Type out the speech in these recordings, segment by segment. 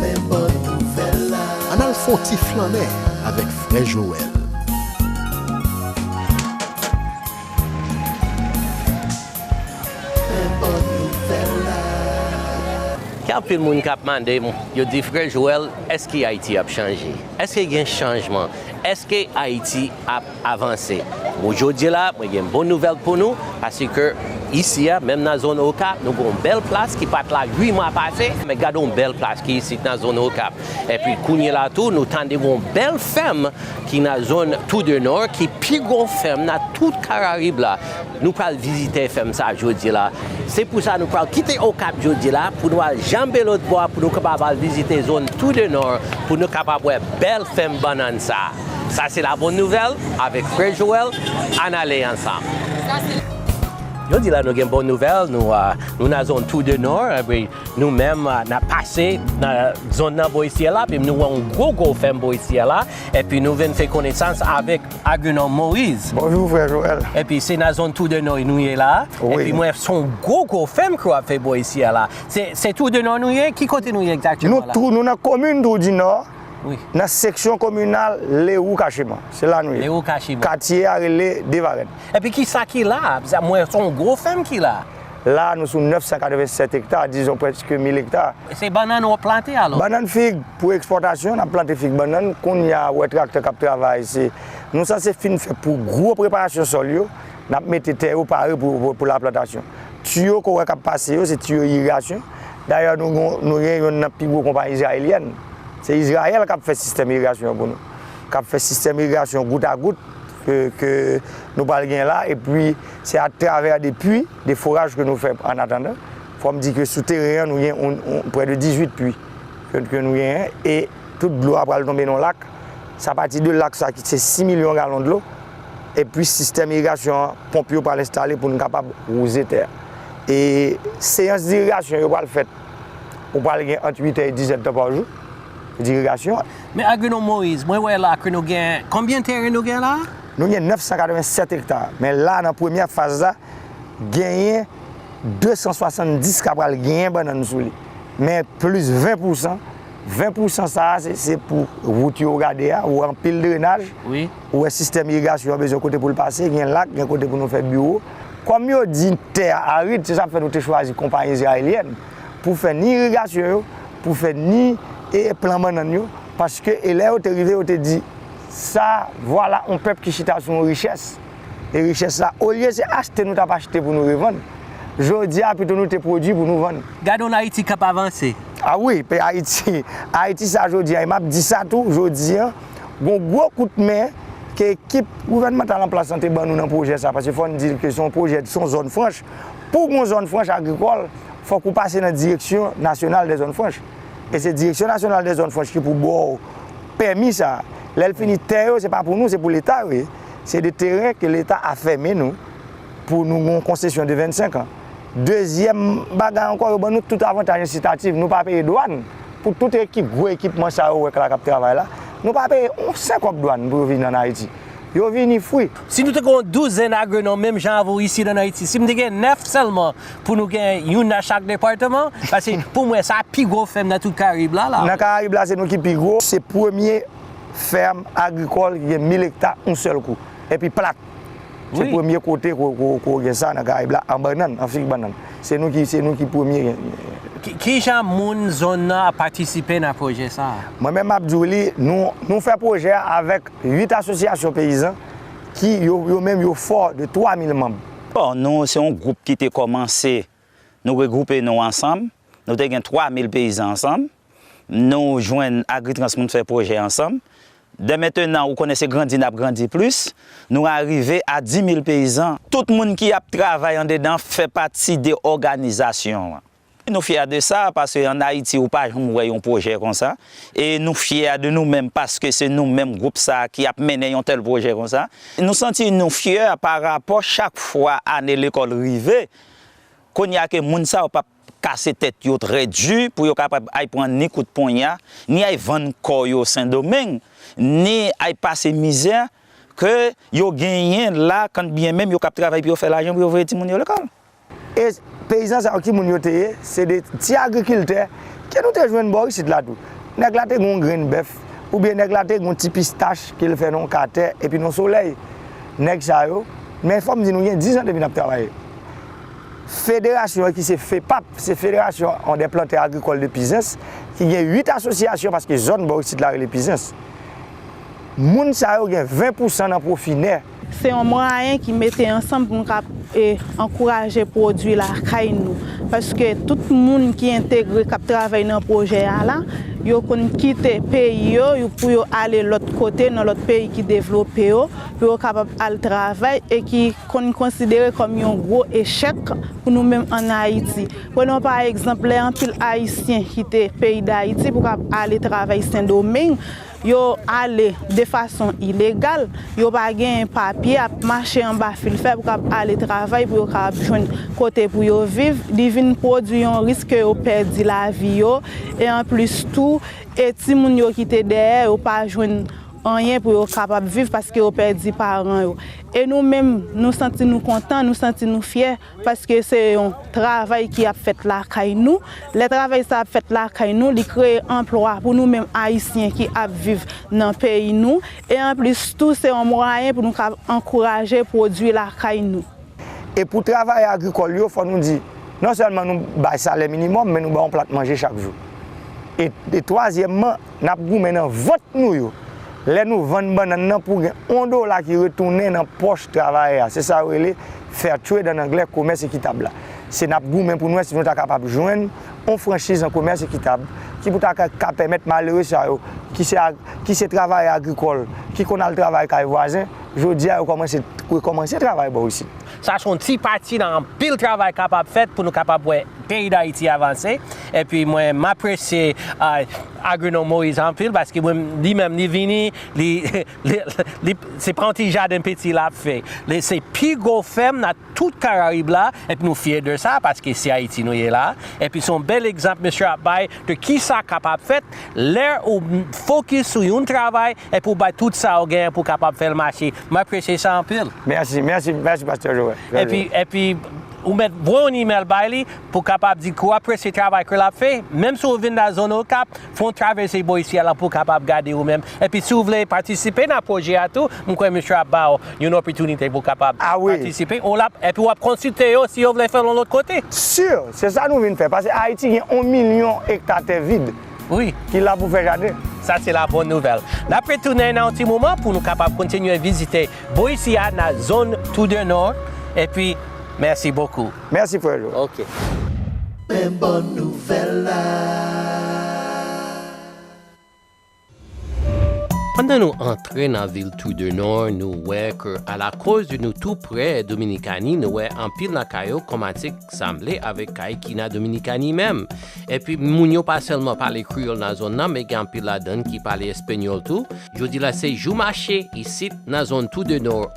Men bòn nouvèl la. Ann al fon ti flannen avèk frè Joel. Men bòn nouvèl la. Gen anpil moun kap mandem yo di frè Joel eske ayiti ap chanje eske gen chanjman eske ayiti ap avanse bon jodi la mwen gen bon nouvèl pou nou paske isi a menm nan zòn okap nou gon bèl plas ki pat la 8 mwa pase men gadon bèl plas ki isit nan zòn okap epi kounye la tou nou tande gon bèl fèm ki nan zòn tou de nò ki pi gwo fèm nan tout karayib la. Nou pral vizite fèm sa jodi la. Se pou sa nou pral kite Okap jodi la pou nou al janbe lòt bò a pou nou kapab al vizite zòn Tout de Nò pou nou kapab wè bèl fèm bannann sa. Sa se la bonne nouvelle avèk Frè Joel, ann ale ansanm. Jodi la nou gen bon nouvèl, nou nan zòn Tout de Nò epi nou menm nap pase nan zòn nan Boissière la epi nou wè yon gwo gwo fèm Boissière la epi nou vin fè konesans avèk Agenor Moise. Bonjour frère Joel. Epi se nan zone Tour de Noy nou ye la. Oui. Epi mwen son gwo gwo fèm ke wap fè bò isi a la. Se se Tour de Noy nou ye? Ki kote nou ye exactement la? Nou tou nou nan komin Tour du Nord. Oui. Nan seksyon kominal Leroux Cachemont. Se la nou ye. Leroux Cachemont. Katye a rele Devarenne. Epi kisa ki la? Mwen son gwo fèm ki la. La a nou sou 987 ekta, dizon prèske 1000 ekta. Se bannann wap plante alò? Bannann fig pou ekspòtasyon, nap plante fig bannann, kounya ou wè traktè kap travay se, nou sanse fin fè pou gwo preparasyon sòl yo, nap mete tè yo pare pou la plantasyon. Tiyo ke w wè kap pase yo se tiyo irigasyon, dayè nou gen nou gen yonn nan pi gwo konpayi izrayelyèn, se Izrayèl kap fè sistèm irigasyon an pou nou, kap fè sistèm irigasyon gout a gout. ke nou pral gen la e pwi se a travè de pwi, de foraj ke nou fè an atandan. Fò m di ke sou teren an nou gen prè de 18 pwi ke nou genyen e tout dlo a pral tonbe nan lak. Se a pati de lak sa ki se 6 milyon galon dlo e pwi sistèm irigasyon an, ponp yo pral enstale pou nou kapab wouze tè a. E seyans dirigasyon yo pral fèt ou pral gen ant 8 è e 10 è tan pa jou. dirigasyon. Men Agrinou Moise, mwen wè la ke nou gen, konbyen teren nou gen la? Nou gen 987 ekta, men la nan premyè faz la, genyen 270 ka pral genyen bannann sou li. Men plis 20 pousan, 20 pousan sa a se pou wout yo ou gade a, ou wè anpil drenaj, ou wè sistèm irigasyon an bezwen kote pou l pase, gen lak, gen kote pou nou fè biwo. Kòm yo di tè a arid, se sa k fè nou te chwazi konpayi izrayelyèn. pou fè ni irigasyon yo, pou fè ni plan bannann yo, paske e lè yo te rive yo te di, sa, vwala yon pèp ki chita sou yon richès, e richès sa, olye se achte nou t ap achte pou nou revann, jodi a pito nou te pwodui pou nou vann. Gade yon Ayiti k ap avanse! A wi, pe Ayiti, Ayiti sa jodi a, e m ap di sa tou, jodi a, gon gwo kout men ke ekip gouvènmantal anplas lan te ban nou nan pwojè sa, paske fò n di l ke se yon pwojè, se yon zòn franch, Pou w gen yon zòn franch agrikòl, fòk ou pase nan direksyon nasyonal dè zòn franch. E se direksyon nasyonal dè zòn franch ki pou ba w pèmi sa a. Lè l fini, tè yo se pa pou nou, se pou leta yo ye. Se de teren ke leta afème nou pou nou gen yon konsesyon de 25 an. Dezyèm bagay ankò, yo ban nou tout avantaj ensitatif. Nou pa peye dwàn pou tout ekip, gwo ekipman sa yo wè k la k ap travay la. Nou pa peye yon sen kòb dwàn pou yo vin ann Ayiti. yo vini fwi. Si nou te gen yon douzèn agronòm menm jan avè w isit ann Ayiti, si m te gen nèf sèlman pou nou gen youn nan chak departeman, paske pou mwen sa pi gwo fèm nan tout Karayib la la. Nan Karayib la se nou ki pi gwo, se premye fèm agrikòl ki gen 1000 ekta yon sèl kou. Epi plat, se premye kote ke w gen sa nan Karayib la, an bannann, an fig bannann. Se nou ki, se nou ki premye gen. Ki jan moun zòn nan ap patisipe nan pwojè sa a? Mwen menm m ap di w li, nou, nou fè pwojè a avèk. 8 asosyasyon peyizan ki yo menm yo fò de 3 mil manm. Bon, nou se yon gwoup ki te kòmanse, nou regwoupe nou ansanm, nou te gen 3 mil peyizan ansanm, nou jwenn Agritrans pou nou fè pwojè ansanm. Dè mentenan ou konnen se grandi n ap grandi plis, nou arive a 10 mil peyizan. Tout moun ki ap travay andedan fè pati de òganizasyon an. Nou fyè de sa paske an Ayiti ou pa janm wè yon pwojè konsa e nou fyè de nou menm paske se nou menm gwoup sa ki ap mennen yon tèl pwojè konsa. Nou santi nou fyè pa rapò chak fwa ane lekòl rive kounye a ke moun sa yo pap kase tèt yo trè di pou yo kapab ay pran ni kout ponya, ni ay vann kò yo Sendomeng, ni ay pase mizè ke yo genyen la kanbyen menm yo kap travay pou yo fè lajan pou yo voye timoun yo lekòl. E peyizan sa yo ki moun yo te ye? Se de ti agrikiltè ke nou te jwenn bò isit la tou. Nèg la te gen yon grenn bèf, oubyen nèg la te gen yon ti pistach ke l fè nan yon ka tè epi nan solèy. Nèg sa yo, men fò m di nou gen dizan depi n ap travay. Federasyon an ki se FEPAP, se Federasyon an dè plantè agrikòl de Pizens, ki gen 8 asosyasyon paske zòn bò isit la rele Pizens. Moun sa yo gen 20 pousan nan pwofi nè. Se yon mwayen ki mete ansanm pou nou ka ankouraje pwodwi lakay nou. Paske tout moun ki entegre, k ap travay nan pwojè a la, yo konn kite peyi yo pou yo ale lòt kote, nan lòt peyi ki devlope yo, pou yo kapab al travay e ki konn konsidere kòm yon gwo echèk pou nou menm ann Ayiti. Prenons pa egzanp, lè anpil Ayisyen kite peyi Dayiti pou kapab ale travay Sendomeng, Yo ale de fason ilegal, yo pa genyen papye, ap mache anba fil fè pou kab ale travay pou yo kapab jwenn kote pou yo viv, li vin pwodwi yon risk ke yo pèdi lavi yo, e anplis tou e timoun yo kite dèyè yo pa jwenn anyen pou yo kapab viv paske yo pèdi paran yo. E nou menm nou santi nou kontan, nou santi nou fyè Paske se yon travay ki ap fèt lakay nou. Lè travay sa ap fèt lakay nou, li kreye anplwa pou nou menm Ayisyen ki ap viv nan peyi nou. E anplis tou, se yon mwayen pou nou ka ankouraje pwodui lakay nou. E pou travayè agrikòl yo, fò nou di, non sèlman nou bay salè minimòm, men nou ba yon plat manje chak jou. E twazyèmman. nap goumen nan vant nou yo lè nou vann bannann nan pou gen on dola ki retounen nan pòch travayè a se sa yo rele fair trade an anglè komès ekitab la se nap goumen pou nou wè si nou ta kapab jwenn on franchiz nan komès ekitab ki pou ta ka pèmèt malere sa yo ki se ki se travayè agrikòl ki konn al travay kay vwazen jodi a yo kòmanse rekòmanse travay bò isit. Sa se yon ti pati nan anpil travay kapab fèt pou nou kapab wè peyi Dayiti avanse. Epi mwen m apresye Agrinom Moïse anpil paske li menm li vini li li se pa yon ti jaden piti lap fè. Li se pi gwo fèm nan tout karayib la epi nou fyè de sa paske se Ayiti nou ye la. Epi se yon bèl egzanp mesye ap bay de kisa kapab fèt lè ou fokis sou yon travay epi ou bay tout sa ou genyen pou kapab fè l mache. M apresye sa anpil. Mèsi, mèsi, mèsi pastè Joel. Epi, epi ou mèt voye yon email bay li pou kapab di ke w apresye travay ke l ap fè, menm si w vin nan zòn Okap, fè yon travèse bò isi a la pou w kapab gade ou menm. Epi si w vle patisipe nan pwojè a tou, m kwè misye ap ba w yon opòtinite pou w kapab patisipe, ou la, epi w ap konsilte yo si yo vle fè l yon lòt kote. Sure! Se sa nou vin fè, pase Ayiti gen yon milyon ekta tè vid. Wi. Ki la pou fè jaden. Sa se la bon nouvèl. N ap retounen nan yon ti moman pou nou kapab kontinye vizite bò isi a nan zòn Trou de Nord epi mèsi bokou. Mèsi frè Jo. Ok. Men bon nouvèl la. Pandan nou antre nan vil Tour de Nord nou wè ke alakoz de nou tou prè Dominikani nou wè anpil nan kay yo kòmanse sanble avèk kay ki nan Dominikani menm. Epi moun yo pa sèlman pale kreyòl nan zòn nan men gen anpil ladann ki pale espenyòl tou. Jodi la se jou mache isit nan zòn Tour de Nord.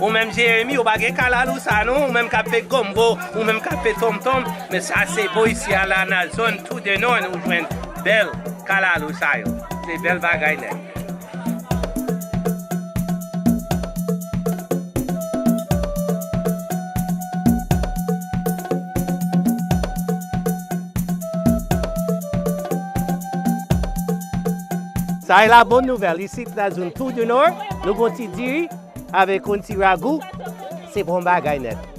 Ou menm Jeremi ou pa gen kalalou sa non, ou menm kap fè gombo, ou menm kap fè tom tom, men sa se bo isi a la nan zòn tou de nòn ou jwenn bèl kalalou sa yo. Se bèl bagay nèt. Sa e la bon nouvèl, isit nan zone Tour du Nord, nou gon ti diri avèk yon ti ragou, se bon bagay nèt.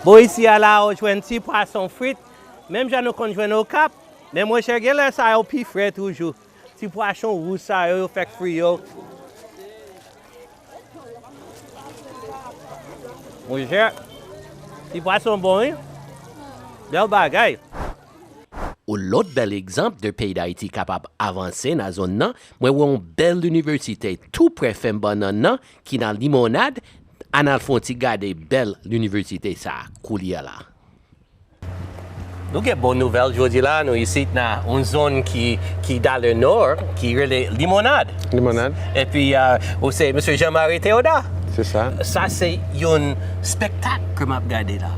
Bo isi a la ou jwenn ti pwason frit, menm jan nou konn jwenn Okap, men monchè genlè sa yo pi fre toujou. Ti pwachon wouj sa yo yo fèk fri yo. Monchè, ti pwason bon wi. Bèl bagay. Yon lòt bèl egzanp de peyi Dayiti kapab avanse nan zonn nan, mwen wè yon bèl inivèsite tou prè fèm bannann nan ki nan Limonad, ann al fè yon ti gade bèl inivèsite sa a koulye a la. Nou gen bon nouvèl jodi la, nou isit nan yon zòn ki dan le nò, ki rele Limonad. Limonad. Epi ou se Mesye Jean Marie Theodat. Se sa. Sa se yon spektak ke m ap gade la.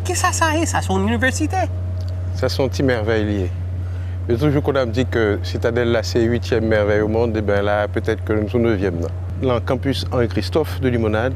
Ki sa sa ye? Sa se yon inivèsite? Sa se yon ti mèvèy li ye. Yo toujou konn ap di ke Sitadèl la se uityèm mèvèy o mond, e ben la petèt ke nou sou nevyèm nan. Lan kanpis Henri Christophe de Limonad.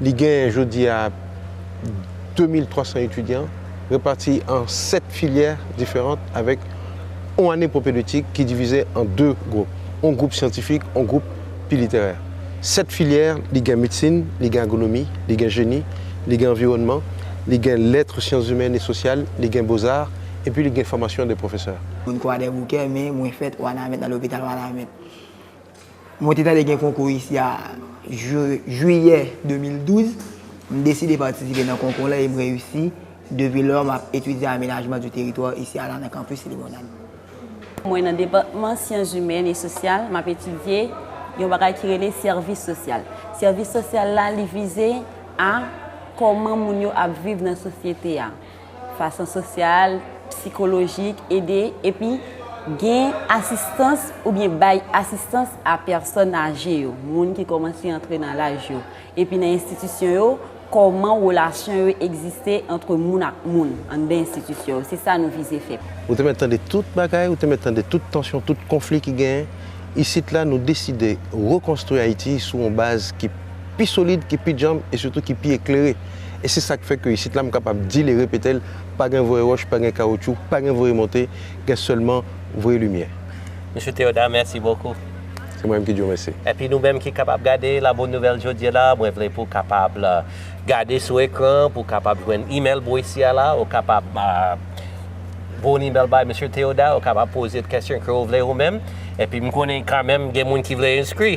Li genyen jodi a 2300 etidyan repati an 7 filyè diferant avèk on ane pwopedetik ki divize an 2 gwoup, on gwoup syantifik, on gwoup pi literè. 7 filyè, li gen medsin, li gen agonomi, li gen jeni, li gen anviwònman, li gen lètre, syanszimèn e sosyal, li gen bozar epi li gen fòmasyon de pwofesè. Moun Kwadèboukè men mwen fèt Wanament nan lopital Wanament. Mwen te tande gen konkou isi a jiyè 2012. M deside patisipe nan konkou la e m reyisi. Depi lò, m ap etidye amenajman di teritwa isi a la nan kanpis Limonad. Mwen nan depatman syanzimèn e sosyal, m ap etidye yon bagay ki rele sèvis sosyal. Sèvis sosyal la li vize a kòman moun yo ap viv nan sosyete a. fason sosyal, psikolojik, ede epi gen asistans oubyen bay asistans a pèsòn aje yo, moun ki kòmanse antre nan laj yo, epi nan enstitisyon yo, kòman relasyon yo egziste antre moun ak moun anndan enstitisyon yo, se sa nou vize fè. Ou te mèt tande tout bagay, ou te mèt tande tout tansyon, tout konfli ki genyen. Isit la, nou deside rekonstwi Ayiti sou yon baz ki pi solid, ki pi djanm e sitou ki pi eklere. e se sak fè ke isit la m kapab dil e repetel pa gen voye ròch pa gen kawoutchou pa gen voye monte gen sèlman voye limyè. Mesye Theodat mèsi bokou. Se mwen menm ki di w mèsi. Epi nou menm ki kapab gade la bonne nouvelle jodye la mwen vle pou kapab gade sou ekran pou kapab jwenn email Boise a la ou kapab voye yon email bay Mesye Theodat ou kapab poze kesyon ke ou vle ou menm epi m konnen kan menm gen moun ki vle enskri.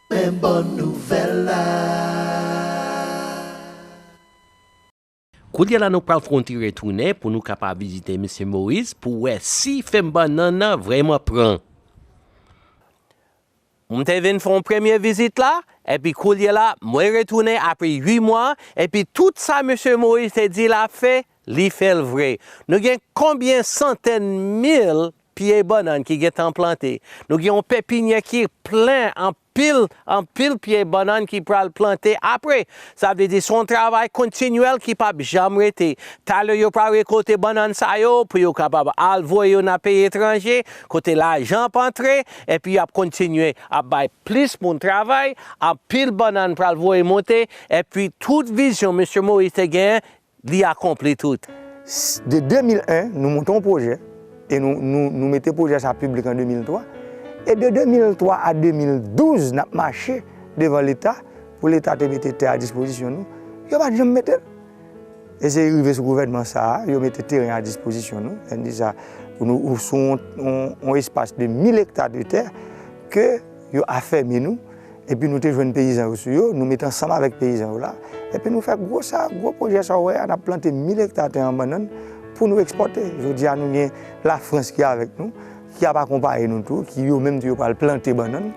Men bon nouvèl la. Koulye la nou pral konti retounen pou nou kapab vizite Mesye Moise pou wè si fèm bannann nan vrèman pran. M te vin fè yon premye vizit la, epi koulye la mwen retounen apre 8 mwa, epi tout sa Mesye Moise te di lap fè, Li fè l vre. Nou gen konbyen santèn mil pye bannann ki gentan plante. Nou gen yon pepinyè ki plen anpil, anpil pye bannann ki pral plante apre. Sa vle di se yon travay kontinyèl ki pa p janm rete. Talè yo pral rekolte bannann sa yo pou yo kapab al voye yo nan peyi etranje kote lajan ap antre epi y ap kontinye ap bay plis moun travay, anpil bannann pral voye monte epi tout vizyon Mesye Moïse te genyen Li akonpli tout. De 2001, nou monte yon pwojè e nou mete pwojè sa piblik an 2003. E de 2003 a 2012, n ap mache devan Leta pou Leta te mete tè a dispozisyon nou. Yo pa t janm mete l. E se rive sou gouvènman sa a, yo mete teren a dispozisyon nou. Sa vle di sa, sou yon espas de mil ekta de tè ke. Yo afèmi nou, epi nou te jwenn peyizan yo sou yo, nou met ansanm avèk peyizan yo la, epi nou fè gwo sa, gwo pwojè sa ou wè a, n ap plante 1000 ekta tè an bannann pou nou ekspòte. Jodi a nou gen Lafrans ki avèk nou, ki ap akonpaye nou tou, ki yo menm tou yo pral plante bannann,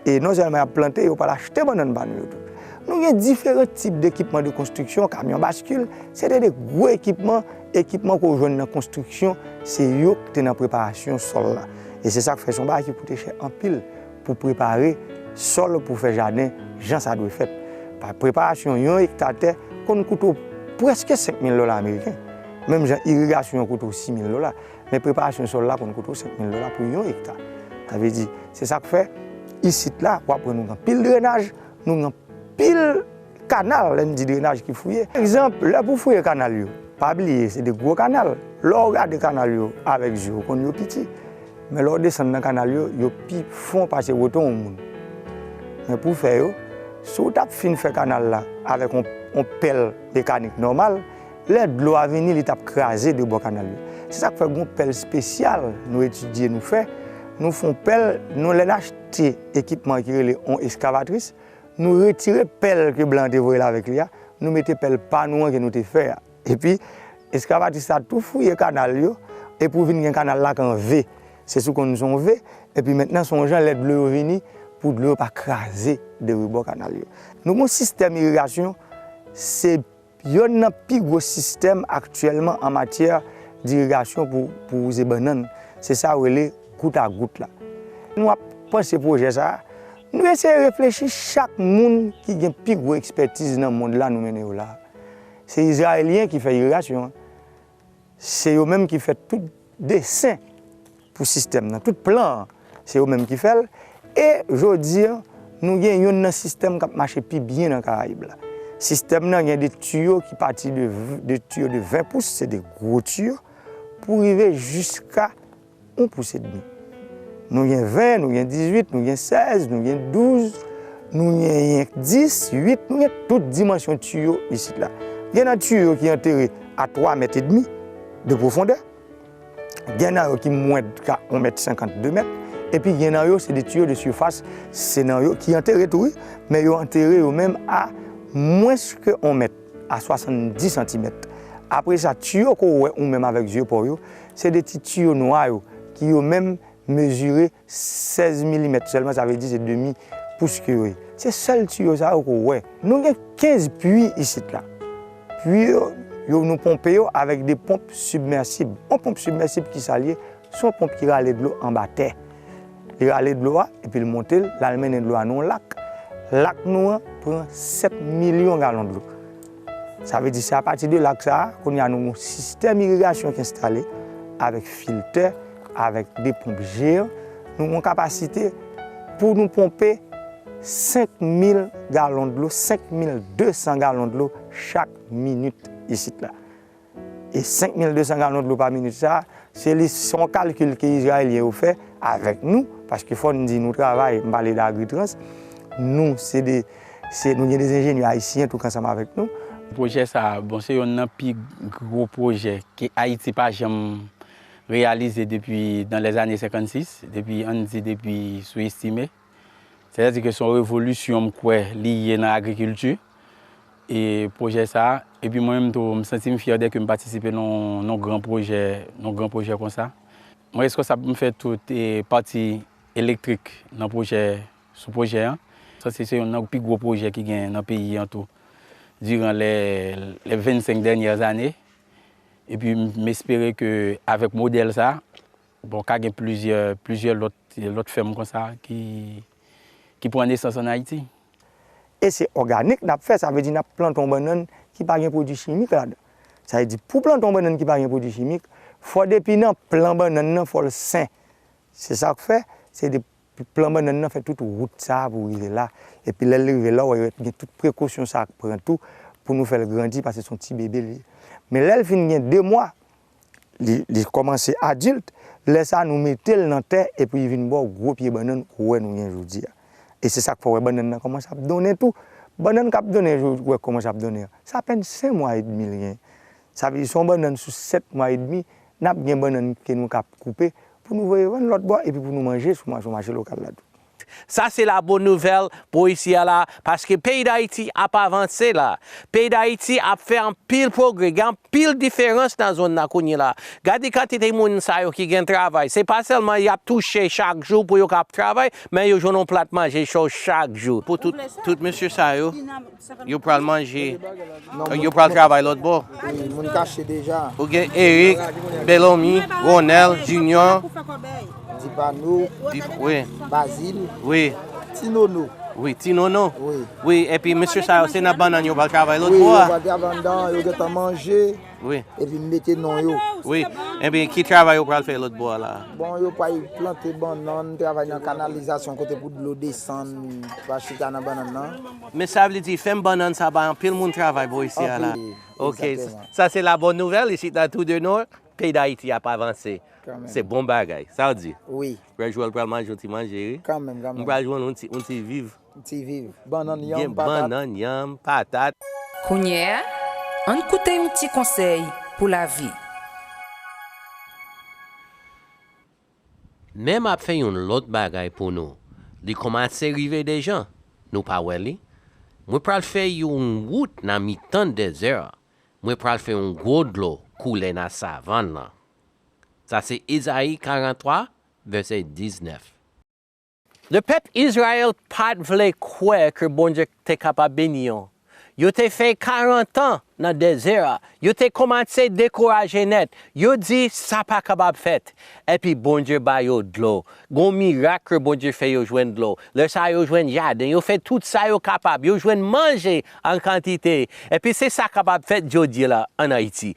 e non sèlman y ap plante, yo pral achte bannann pa nou yo tou. Nou gen diferan tip dekipman de konstriksyon, kamyon baskil, se te de gwo ekipman. Ekipman ke w jwenn nan konstriksyon se yo ki te nan preparasyon sòl la. E se sa k fè se yon bagay ki koute chè anpil pou prepare sòl pou fè jaden jan sa dwe fèt. Preparasyon yon ekta tè konn koute w prèske 5 mil dola ameriken. Menm jan irigasyon an koute w 6 mil dola, men preparasyon sòl la konn koute w 5 mil dola pou yon ekta. Sa vle di, se sa k fè isit la w ap wè nou gen anpil drenaj, nou gen anpil. Kanal, lè n di drenaj ki fouye. Egzanp, lè pou fouye kanal yo, pa bliye se de gwo kanal. Lè w gade kanal yo avèk zye w, ou konn yo piti. Men lè w desann nan kanal yo, yo pi fon pase woton yon moun. Men pou fè yo, si w t ap fin fè kanal la avèk yon pèl mekanik nòmal, lè dlo a vini li t ap kraze de bò kanal yo. Se sa k fè gen yon pèl spesyal nou etidye, nou fè, nou fè yon pèl, nou lè n achte ekipman ki rele yon eskavatris, Nou retire pèl ke blan an te voye l avèk li a, nou mete pèl pa nou an ke nou te fè a. Epi, esklavatis la tou fouye kanal yo, epi ou vin gen kanal la kan V. Se sou konn son V, epi mentnan son jan lè dlo yo vini, pou dlo yo pa kraze de rebò kanal yo. Nou gen yon sistèm irigasyon, se. Yonn nan pi gwo sistèm aktyèlman an matyè dirigasyon pou wouze bannann, se sa yo rele gout a gout la. Nou ap panse pwojè sa a, nou eseye reflechi chak moun ki gen pi gwo ekspètiz nan mond la nou mennen yo la a. Se Izrayelyen ki fè irigasyon an. Se yo menm ki fè tout desen pou sistèm nan, tout plan an, se yo menm ki fè l. E jodi an, nou gen youn nan sistèm k ap mache pi byen nan Karayib la. Sistèm nan gen de tiyo ki pati de tiyo de 20 pous, se de gwo tiyo, pou rive jiska. On pous edmi. Nou gen 20, nou gen 18, nou gen 16, nou gen 12, nou genyen 10, 8, nou gen tout dimansyon tiyo isit la. Gen nan tiyo yo ki antere a 3 mèt edmi de pwofondè, gen nan yo ki mwen ka 1 mèt 50, 2 mèt, epi gen nan yo se de tiyo de sifas, se nan yo ki antere tou wi, men yo antere yo menm a mwens ke 1 mèt, a 70 santimèt. Apre sa, tiyo ke w wè ou menm avèk zye pa w yo, Se de ti tiyo nwa yo ki yo menm mezire 16 milimèt sèlman, sa vle di se demi pous ke yo ye. Se sèl tiyo sa yo ke w wè. Nou gen 15 pui isit la. Pui yo, nou ponpe yo avèk de ponp sibmèsib. Yon ponp sibmèsib ki sa l ye? Se yon ponp ki rale dlo anba tè. Li rale dlo a epi l monte l, l al mennen dlo a nan yon lak. Lak nou an pran 7 milyon galon dlo. Sa vle di se apati de lak sa a, kounye a nou gen yon sistèm irigasyon ki enstale avèk filtè, avèk 2 ponp jeyan. Nou gen yon kapasite pou nou ponpe 5 mil galon dlo, 5 mil 200 galon dlo chak minit isit la. E 5200 galon dlo pa minit sa a, se li, se yon kalkil ke Izrayelyen yo fè avèk nou, paske fò n di nou travay, m pale de Agritrans, nou se de, se, nou gen de enjenyè ayisyen tou k ansanm avèk nou. Pwojè sa a, bon se yonn nan pi gwo pwojè ke Ayiti pa janm reyalize depi dan lèzane 56, depi, an n di depi sou Estimé. Se ta di ke se yon revolisyon m kwè li ye nan agrikilti e pwojè sa a. Epi mwen menm tou m santi m fyè dèke m patisipe nan yon gran pwojè, nan yon gran pwojè konsa. Mwen reskonsab pou m fè tout pati elektrik nan pwojè, sou pwojè an. Sa se yon nan pi gwo pwojè ki gen nan peyi an tou diran lè 25 dènyè ane. Epi m espere ke avèk modèl sa a. Bon, ka gen plizyè, plizyè lòt, lòt fèm konsa ki, ki pran nesans an Ayiti. E se òganik n ap fè, sa vle di n ap plante yon bannann ki pa gen pwodui chimik ladan. Sa vle di pou plante yon bannann ki pa gen pwodui chimik, fò depi nan plan bannann nan fò l sen. Se sa k fè, se de, plan bannann nan fè tout wout sa a pou rive la. Epi lè l rive la, w wè yo gen tout prekosyon sa a k pran tou pou nou fè l grandi, paske se yon ti bebe l ye. Men lè l fin gen de mwa, li kòmanse adilt, lè sa nou mete l nan tè epi li vin ba w gwo pye bannann ou wè nou gen jodi a. E se sa k fè w wè bannann nan kòmanse ap donnen tou. Bannann k ap donnen yo ou wè kòmanse ap donnen an, se apèn sen mwa edmi l genyen. Sa vle di se yon bannann sou sèt mwa edmi, n ap gen bannann ke nou ka koupe pou nou voye vann lòt bò epi pou nou manje sou mache lokal la tou. Sa se la bon nouvèl pou isi a la paske peyi Dayiti ap avanse la. Peyi Dayiti ap fè anpil pwogrè. Gen anpil diferans nan zòn nan kounye la. Gade kantite moun sa yo ki gen travay. Se pa sèlman y ap touche chak jou pou yo ka ap travay, men yo jwenn yon plat manje cho chak jou. Pou tout mesye sa yo, Yo pral manje. Yo pral travay lòt bò. Ou gen Eric, Belomy, Ronel, Junior. Dibano. Bazil. Ti Nono. Wi, ti nono. Wi, epi mesye sa yo, se nan bannan yo pral travay lòt bò a. Wi, yo pral travay nan bannan, yo gentan manje. Wi. Epi mete non yo. Wi, epi ki travay yo pral fè lòt bò a la. Bon, yo pral plante bannan, travay nan kanalizasyon kote pou dlo desann, pa chita nan bannan nan. Men sa vle di fèm bannann sa bay anpil moun travay bò isi a la. Ok sa se la bòn nouvèl isit nan Trou de Nord peyi dayiti ap avanse se bon bagay sa w di frè Joel pral manje yon ti manje wi m pral jwenn yon ti viv gen bannann yanm patat. Kounye a, ann koute yon ti konsèy pou lavi. Men map fè yon lòt bagay pou nou li konmase rive dejan nou pa wè li mwen pral fè yon wout nan mitan dezè a mwen pral fè yon gwo dlo koule nan savann lan sa se Ezayi 43 vèsè 19. Lè pèp Izrayèl pa t vle kwè ke Bondye te kapab beni yo, yo te fè karantan nan dezè a, yo te kòmanse dekouraje nèt, yo di, Sa pa kapab fèt! Epi Bondye ba yo dlo. Gen yon mirak ke Bondye fè yo jwenn dlo. Lè sa a yo jwenn jaden, yo fè tout sa yo kapab, yo jwenn manje an kantite. Epi se sa kapab fèt jodi la ann Ayiti.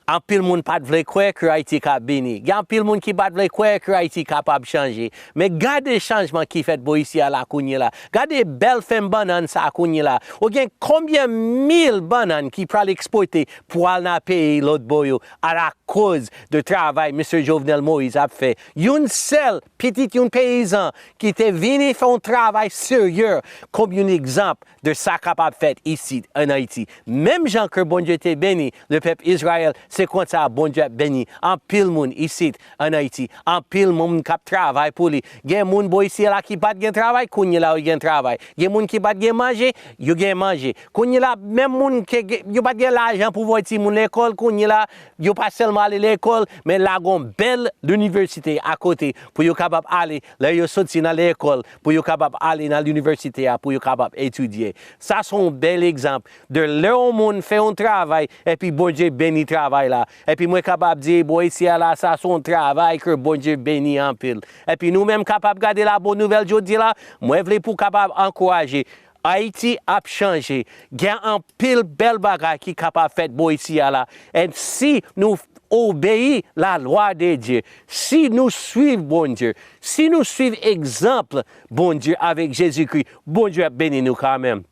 Anpil moun pa t vle kwè ke Ayiti ka beni. Gen anpil moun ki pa t vle kwè ke Ayiti kapab chanje. Men gade chanjman ki fèt bò isi a la kounyela. Gade bèl fèm bannann sa a kounyela. Ou gen konbyen mil bannann ki pral ekspòte pou al nan peyi lòtbò yo alakoz de travay Misye Jovenel Moïse ap fè. Youn sèl Pitit yon peyizan ki te vini fè yon travay serye kòm yon egzanp de sa kapab fèt isit ann Ayiti. Menm jan ke Bondye te beni lepèp Izrayèl, se konsa Bondye ap beni anpil moun isit ann Ayiti. Anpil moun k ap travay pou li. Gen moun bò isi la ki pa t gen travay, kounyela yo gen travay. Gen moun ki pa t gen manje, yo gen manje. Kounyela menm moun ke yo pa t gen lajan pou voye timoun lekòl, kounyela yo pa sèlman ale lekòl, men lagon bèl linivèsite a kote pou yo kapab ale lè yo soti nan lekòl pou yo kapab ale nan linivèsite a pou yo kapab etidye. Sa se yon bèl egzanp de lè yon moun fè yon travay epi Bondye beni travay la. Epi mwen kapab di bò isi a la sa se yon travay ke Bondye beni anpil. Epi nou menm kapab gade la bon nouvèl jodi la, mwen vle pou kapab ankouraje Ayiti ap chanje, gen anpil bèl bagay ki kapab fèt bò isi a la, and si nou obeyi la lwa de Dye, si nou swiv Bondye, si nou swiv egzanp Bondye avèk Jezikri, Bondye ap beni nou kanmenm.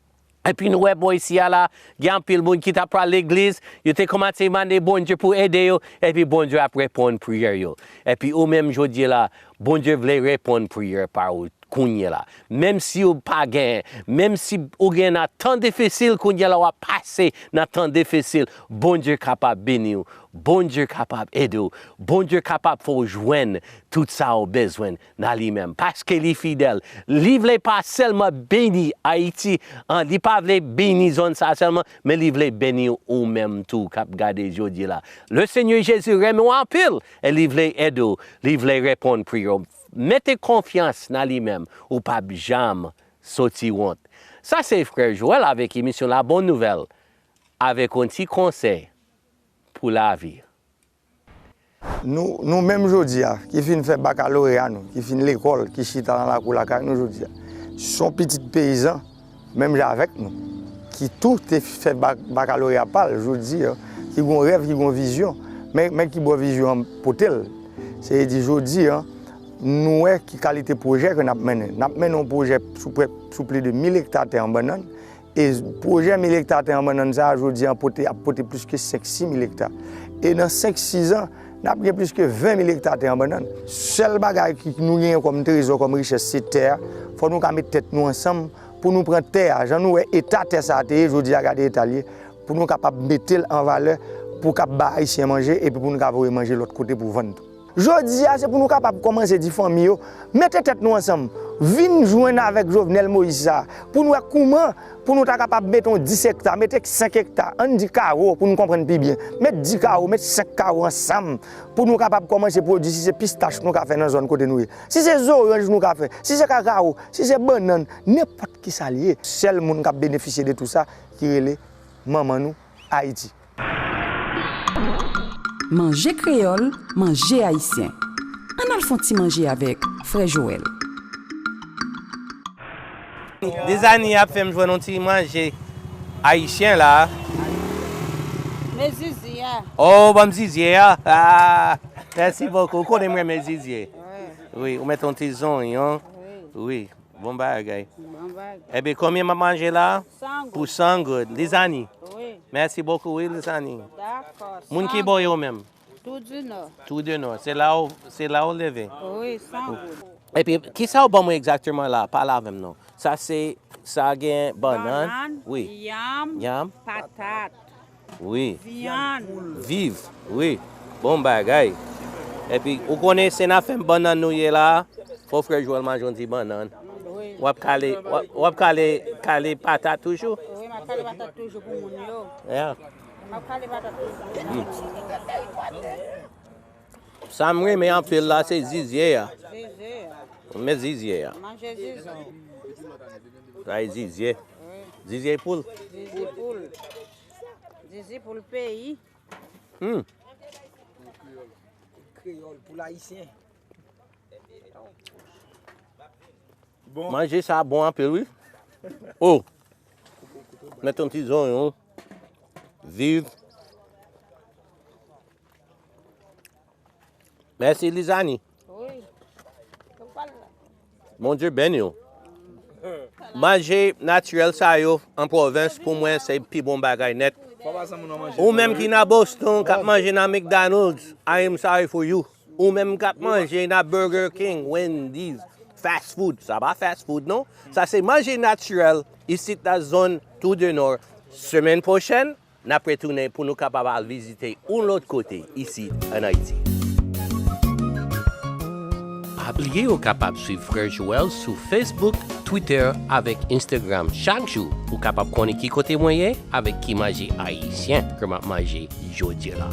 Epi nou wè bò isi a la, gen anpil moun ki ta pral legliz, yo te kòmanse mande Bondye pou ede yo, epi Bondye ap reponn priyè yo. Epi oumenm jodi la, Bondye vle reponn priyè pa ou kounye la. Menm si ou pa gen, menm si ou gen nan tan difisil kounye la wap pase nan tan difisil Bondye kapab beni ou, Bondye kapab ede ou, Bondye kapab fè ou jwenn tout sa ou bezwen nan li menm paske li fidèl. Li vle pa sèlman beni Ayiti an, li pa vle beni zòn sa sèlman men li vle beni ou menm tou kap gade jodi la. Lesenyè Jezi renmen ou anpil E li vle ede w, li vle reponn pri yo. Mete konfyans nan li menm, ou pap janm soti wont. Sa se frè Joel avèk emisyon la bon nouvèl avèk yon ti konsèy pou lavi. Nou menm jodi a, ki fin fè bakaloreya nou, ki fin lekòl, ki chita nan lakou lakay nou jodi a, son pitit peyizan. menm jan avèk nou, ki tou te fè bakaloreya pa l, jodi, ki gon rèv, ki gon vizyon, men ki bò vizyon an pote l, se vle di jodi, nou wè ki kalite pwojè ke n ap mennen. N ap mennen yon pwojè sou plis de 1000 ekta tè an bannann, e pwojè 1000 ekta tè an bannann sa a, jodi, ap pote plis ke 5, 6 mil ekta. E nan 5, 6 an. N ap gen plis ke 20 mil ekta tè an bannann. Sèl bagay ki nou genyen kòm trezò, kòm richès se tè a. Fò nou ka met tèt nou ansanm pou nou pran tè a. Jan nou wè eta tè sa a te ye, jodi a gade eta l ye. Pou nou kapab mete l an valè pou k ap ba Ayisyen manje epi pou nou ka voye manje lòt kote pou vann tou. Jodi a se pou nou kapab kòmanse di fanmi yo, mete tèt nou ansanm, vin jwenn avèk Jovenel Moïse sa a pou n wè kouman Pou nou ta kapab mete yon 10 ekta, mete 5 ekta, an n di kawo pou n konprann pi byen. Met 10 kawo, met 5 kawo ansanm pou nou kapab kòmanse pwodui si se pistach nou ka fè nan zòn kote nou ye. Si se zoranj nou ka fè, si se kakawo, si se bannann, nenpòt ki sa l ye. Sèl moun k ap benefisye de tou sa ki rele manman nou. Ayiti. Manje kreyòl, manje ayisyen. Ann al fon ti manje avèk Frè Joël. Dezani ap fèm jwenn yon ti manje ayisyen la. Men zizye a. Oh banm zizye a ahh merci beaucoup ou konnen m renmen zizye wi ou met yon ti zonyon wi. Bon bagay. Bon bagay. Epi konbyen map manje la? 100 goud. Pou 100 goud. Lizani? Wi. Mèsi bokou wi Lizani. Dakò. Moun ki bò yo menm? Tou di nò. Tou di nò. Se la ou, se la ou leve? Wi, 100 goud. Epi kisa ou ban mwen egzakteman la? Pale avè m non. Sa se, sa gen bannann? Bannann. Wi. Yanm. Yanm. Patat. Wi. Viann. Viv. Wi. Bon bagay. Epi ou konnen se nan fèm bannann nou ye la a, fò frè Joel manjon ti bannann. Wi. Wap kale, wap kale, kale patat toujou? Wi map kale patat toujou pou moun yo. Yeah. Map kale patat toujou. Sa m renmen anpil la se zizye a. Renmen zizye a. Sa e zizye. Zizye poul. Zizye poul. Zizye poul peyi. Hmm. Kreyol pou la isyen. Bon. Manje sa bon anpe lwi. O. Oh. Meton ti zon yon. Viv. Mèsi Lizani. Wi. Yo pal la. Bon Dieu beni w. Manje natirèl sa yo an pwovens pou mwen se pi bon bagay nèt. Ou menm ki nan Boston kap manje nan McDonald's, I am sorry for you. Ou menm kap manje nan Burger King, Wendy's, fast food, sa pa fast food non. Sa se manje natirèl isit nan zòn Tour du Nord. Semèn pwochèn N ap retounen pou nou kapab al vizite oun lòt kote isi ann Ayiti. Pa bliye ou kapab swiv Frè Joel sou Facebook, Twitter avèk Instagram chak jou pou kapab konnen ki kote mwen ye avèk ki manje ayisyen ke m ap manje jodi la.